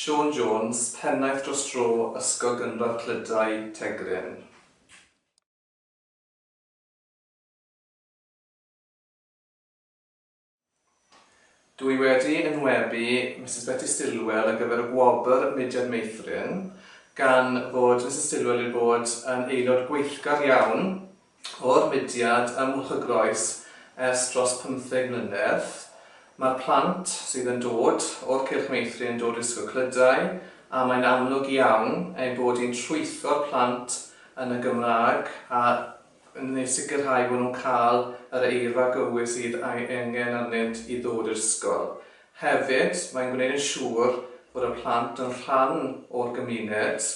Siôn Jones, Pennaeth Dros Dro Ysgol Gynradd Clydau, Tegrin. Dw i wedi enwebu Misus Betty Stillwell ar gyfer y Gwobr Mudiad Meithrin, gan fod Misus Stillwell wedi bod yn aelod gweithgar iawn o'r mudiad ym Mwlch y Groes ers dros pymtheg mlynedd. Mae'r plant sydd yn dod o'r Cylch Meithrin yn dod i'r Ysgol Clydau a mae'n amlwg iawn ein bod hi'n trwytho'r plant yn y Gymraeg a yn eu sicrhau bod nhw'n cael yr eirfa gywir sydd ei angen arnynt i ddod i'r ysgol. Hefyd, mae'n gwneud yn siŵr fod y plant yn rhan o'r gymuned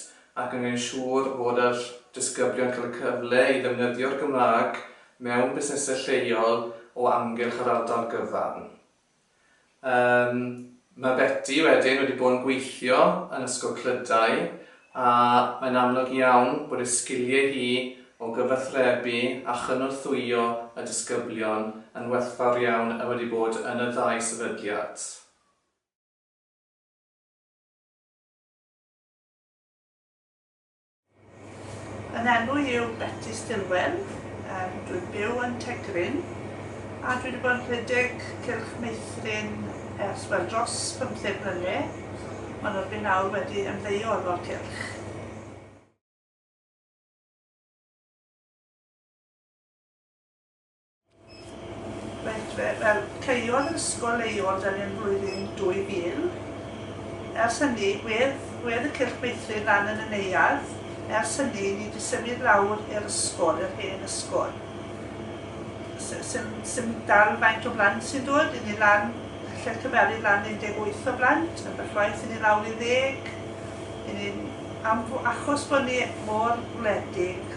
ac yn gwneud yn siŵr fod yr disgyblion cael y cyfle i ddefnyddio'r Gymraeg mewn busnesau lleol o amgylch yr ardal gyfan. Yym, mae Beti wedyn wedi bod yn gweithio yn Ysgol Clydau a mae'n amlwg iawn bod ei sgiliau hi o gyfathrebu a chynorthwyo y disgyblion yn werthfawr iawn a wedi bod yn y ddau sefydliad. Yn enw i yw Betty Stilwell, um, dwi'n byw yn Tegryn a dwi wedi bod yn rhedeg Cylch Meithrin ers wel dros 15 mlynedd, ond rydw i'n awr wedi ymddeol o'r cylch. Reit, fe, fel caeodd yr ysgol ei ôl dan yn flwyddyn 2000. Ers hynny, gwedd, gwedd y cylch meithrin lan yn y neuadd. Ers hynny, ni di symud lawr i'r ysgol, yr hen ysgol. Sym, sym dal faint o blant sy'n dod, i ni lan, lle cyferu lan 18 o blant, yn byllwaith i ni lawr i ddeg. I ni, am, achos bod ni mor wledig,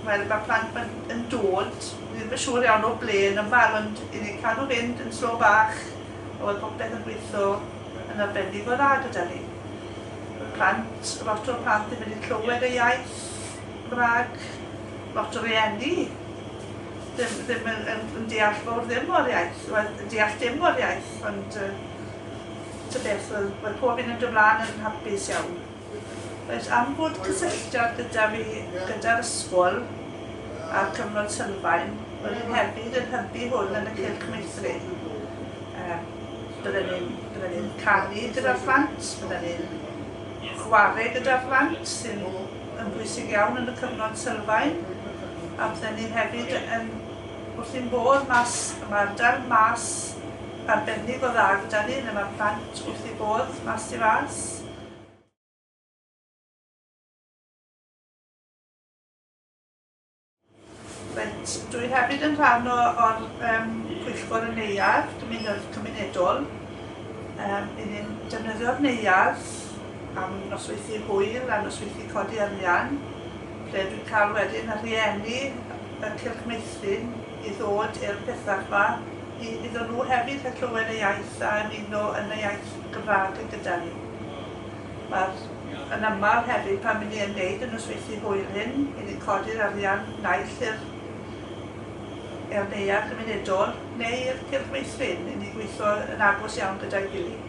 Wel, mae plant ma yn dod, ni ddim yn siŵr iawn o ble yn ymweld, ond i ni cael nhw fynd yn slo bach, a weld popeth yn gweithio yn arbennig o dda gyda ni. Mae plant, lot o'r plant ddim wedi clywed y iaith Gymraeg, lot o rieni ddim, ddim yn, yn, yn deall fawr ddim o'r iaith, wel, yn deall dim o'r iaith, ond uh, tybeth, wel, wel, pob un yn dod mlaen yn hapus iawn. Reit, am bod cysylltiad gyda fi gyda'r ysgol a'r cyfnod sylfaen, roedd hyn hefyd yn hybu hwn yn y cylch meithrin. Um, bydden ni'n bydden ni'n canu gyda'r plant, bydden ni'n chwarae gyda'r plant sy'n yn bwysig iawn yn y cyfnod sylfaen, a bydden ni hefyd yn wrth i'n bod mas, mae ardal mas arbennig o dda gyda ni, lle mae'r plant wrth i bod mas i fas. Reit, dwi hefyd yn rhan o, o'r um, pwyllgor y neuadd, dymunodd cymunedol. Um, I ni'n defnyddio'r neuadd am nosweithi hwyl a nosweithi codi arian, lle dwi'n cael wedyn y rhieni y Cylch Meithrin i ddod i'r pethau yma, i, iddyn nhw hefyd hyllywed y iaith a ymuno yn y iaith Gymraeg gyda ni. Mae'r yn aml hefyd pan ry'n ni yn neud y nosweithdy hwyl hyn, ry'n ni'n codi'r arian naill i'r i'r neuadd gymunedol neu i'r cylch meithrin, ry'n ni'n gweithio yn agos iawn gyda'i gilydd.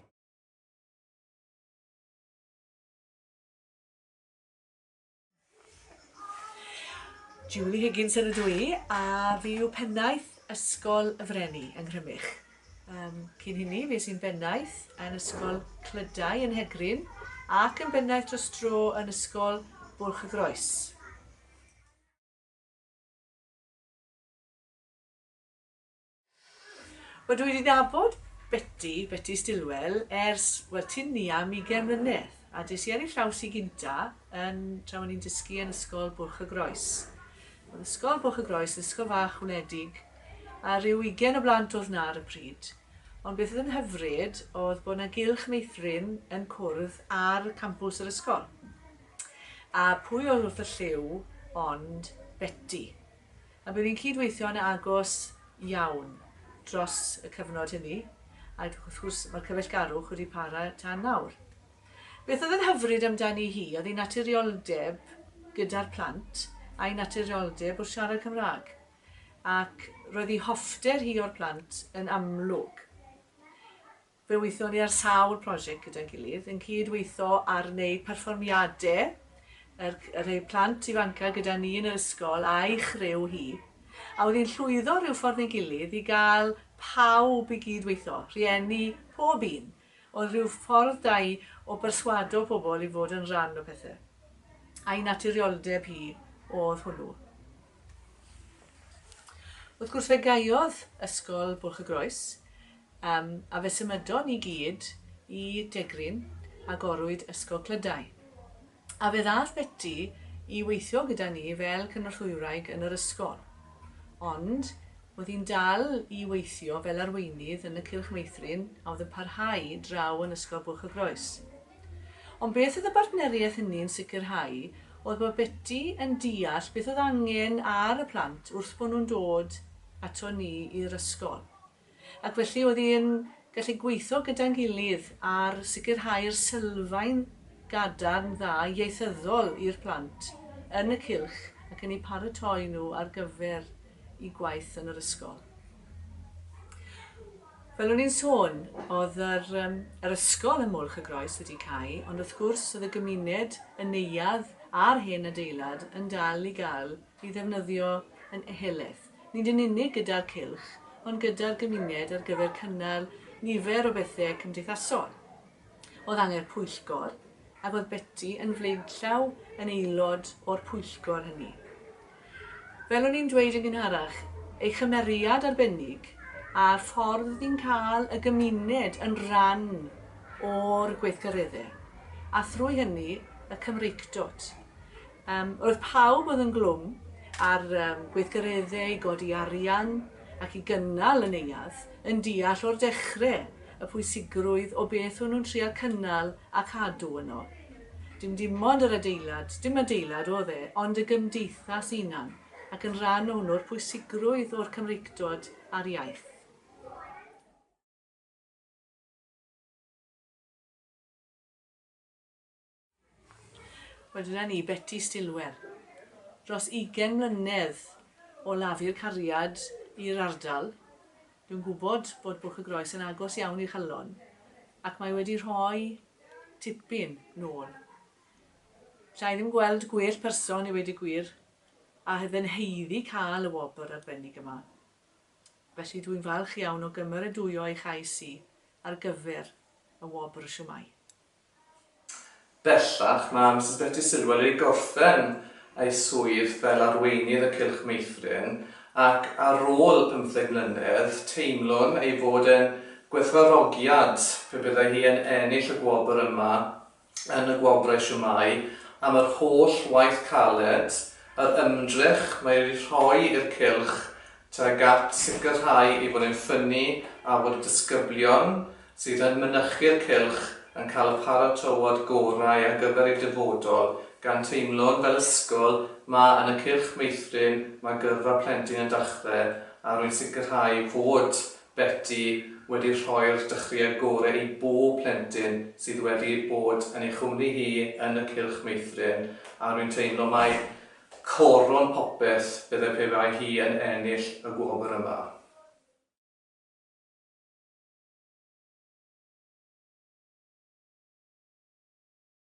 Julie Higginson ydw i, a fi yw pennaeth Ysgol y Freni yng Nghrymych. Um, cyn hynny, fi sy'n bennaeth yn Ysgol Clydau yn Hegrin ac yn bennaeth dros dro yn Ysgol Bwlch y Groes. Wel dwi wedi nabod Beti, Beti Stilwell, ers, wel, ti'n ni am ugain mlynedd, a des i ar ei llaws i gynta yn, tra o'n i'n dysgu yn Ysgol Bwlch y Groes. Oedd Ysgol Bwlch y Groes, ysgol fach wledig, a rhyw ugain o blant oedd na ar y pryd. Ond beth oedd yn hyfryd oedd bod na gylch meithrin yn cwrdd ar campws yr ysgol. A pwy oedd wrth y lliw ond Beti. A bydd hi'n cyd-weithio'n agos iawn dros y cyfnod hynny, ac wrth gwrs mae'r cyfeillgarwch wedi para tan nawr. Beth oedd yn hyfryd amdani hi oedd ei naturioldeb gyda'r plant a'i naturioldeb wrth siarad Cymraeg, ac roedd ei hoffter hi o'r plant yn amlwg. Fe wython ni ar sawl prosiect gyda'n gilydd, yn cyd weitho ar wneud perfformiade yr y rhei plant ifanca gyda ni yn yr ysgol a'i chriw hi. A oedd hi'n llwyddo rhyw ffordd neu gilydd i gael pawb i gyd weitho, rhieni, pob un, oedd rhyw ffordd da i o berswado pobl i fod yn rhan o pethe. A'i naturioldeb hi oedd hwnnw. Wrth gwrs fe gaeodd Ysgol Bwlch-y-groes, um, a fe symudon ni gyd i Degryn, agorwyd Ysgol Clydau. A fe ddath Betty i weithio gyda ni fel cynorthwyraig yn yr ysgol. Ond oedd hi'n dal i weithio fel arweinydd yn y Cylch Meithrin a oedd yn parhau draw yn Ysgol Bwlch-y-groes. Ond beth oedd y bartneriaeth hynny yn sicrhau oedd bod Beti yn deall beth oedd angen ar y plant wrth bod nhw'n dod ato ni i'r ysgol. Ac felly oedd hi'n gallu gweithio gyda'n gilydd ar sicrhau'r sylfaen gadarn dda ieithyddol i'r plant yn y cylch ac yn eu paratoi nhw ar gyfer eu gwaith yn yr ysgol. Fel o'n i'n sôn, oedd yr, um, yr ysgol ym Mwlch y Groes wedi cau, ond wrth gwrs oedd y gymuned, y neuadd a'r hen adeilad yn dal i gael ei ddefnyddio yn ehelaeth, nid yn unig gyda'r cylch, ond gyda'r gymuned ar gyfer cynnal nifer o bethau cymdeithasol. o dan yr pwyllgor ac oedd Beti yn flaenllaw yn aelod o'r pwyllgor hynny. Fel o'n i'n dweud yn gynharach, ei chymeriad arbennig a'r ffordd oedd hi'n cael y gymuned yn rhan o'r gweithgareddau, a thrwy hynny y Cymreictod. Roedd pawb oedd yn glwm ar gweithgareddau i godi arian ac i gynnal y neuadd yn deall o'r dechrau y pwysigrwydd o beth o'n nhw'n trial cynnal a chadw yno. Dim dim ond yr adeilad, dim adeilad oedd e, ond y gymdeithas unan, ac yn rhan o hwnnw'r pwysigrwydd o'r Cymreictod a'r iaith. Wel dyna ni, Beti Stilwell. Dros ugain mlynedd o lafu'r cariad i'r ardal. Dwi'n gwybod bod Bwlch y Groes yn agos iawn i Chalon ac mae wedi rhoi tipyn nôl. Sa i ddim gweld gwell person i wedi gwir a fy nhaeddu cael y wobr arbennig yma. Felly dwi'n falch iawn o gymeradwyo ei chais hi ar gyfer y wobr siwmai. Bellach, mae Misus Betty Sylw wedi gorffen ei swydd fel Arweinydd y Cylch Meithrin ac ar ôl pymtheg mlynedd, teimlwn ei fod e'n gwerthfawrogiad pe byddai hi yn ennill y gwobr yma yn y Gwobrau Siwmai am yr holl waith caled, yr ymdrech mae wedi rhoi i'r cylch tuag at sicrhau ei fod e'n ffynnu a bod y disgyblion sydd yn mynychu'r cylch yn cael y paratoad gorau ar gyfer eu dyfodol, gan teimlo'n fel ysgol ma yn y cylch meithrin mae gyrfa plentyn yn dachdde a rwy'n sicrhau fod Beti wedi rhoi'r dechreuad gore i bob plentyn sydd wedi bod yn ei chwmni hi yn y cylch meithrin a rwy'n teimlo mai Coron popeth bydde pe bai hi yn ennill y gwobr yma.